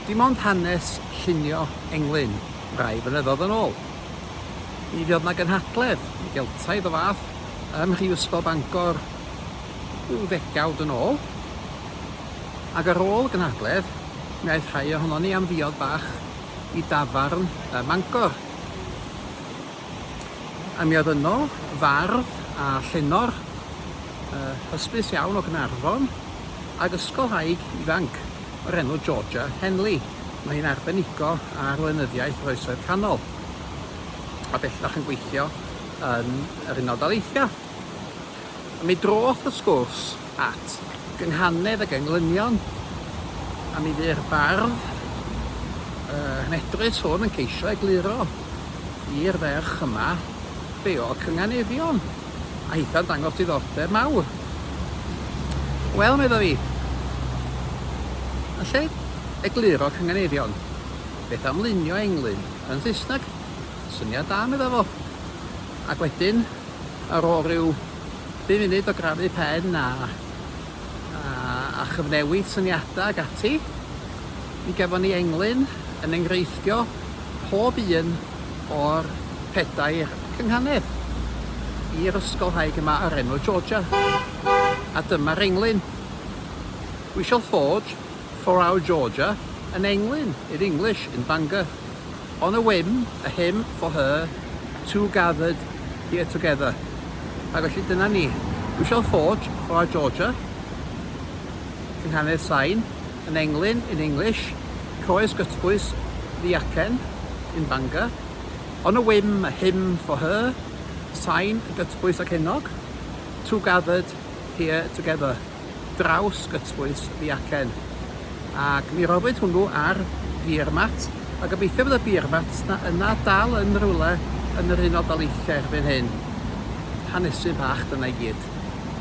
Dim ond hanes llunio englyn rai flynyddoedd yn ôl. Mi fuodd 'na gynhadledd i Geltaidd o fath ym Mhrifysgol Bangor rhyw ddegawd yn ôl, ac ar ôl y gynhadledd mi aeth rhai ohonon ni am ddiod bach i dafarn ym Mangor. A mi oedd yno fardd a llenor yy hysbys iawn o Gaernarfon ag ysgolhaig ifanc o'r enw Georgia Henley. Mae hi'n arbenigo ar lenyddiaeth yr Oesoedd Canol a bellach yn gweithio yn yr Unol Daleithiau. A mi droth y sgwrs at gynghanedd ac englynion, a mi fu'r bardd y nghnedrus hwn yn ceisio egluro i'r ferch yma be oedd cynganeddion, a hitha'n dangos diddordeb mawr. Wel, medda fi, yn lle egluro cynganeddion, beth am lunio englyn yn Saesneg? Syniad da, medda fo. Ac wedyn, Ar ôl rhyw bum munud o grafu pen a a chyfnewid syniadau ac ati, mi gafon ni englyn yn enghreiffio pob un o'r pedair cynghanedd i'r ysgolhaig yma o'r enw Georgia. A dyma'r englyn. We shall forge for our Georgia an englyn, in English, in Bangor. On a whim, a hymn for her, two gathered here together. Ac felly dyna ni. We shall forge for our Georgia, cynghanedd sain, yn englyn, in English, croes gytbwys ddiacen, in Bangor. On a whim, a hymn for her, sain gytbwys ac enog, two gathered here together. draws gytbwys y acen, ac mi roddwyd hwnnw ar Beer Mat, a gobeithio fydd y Beer Mat 'na yna dal yn rywle yn yr Unol Daleithiau erbyn hyn. Hanesydd bach dyna i gyd.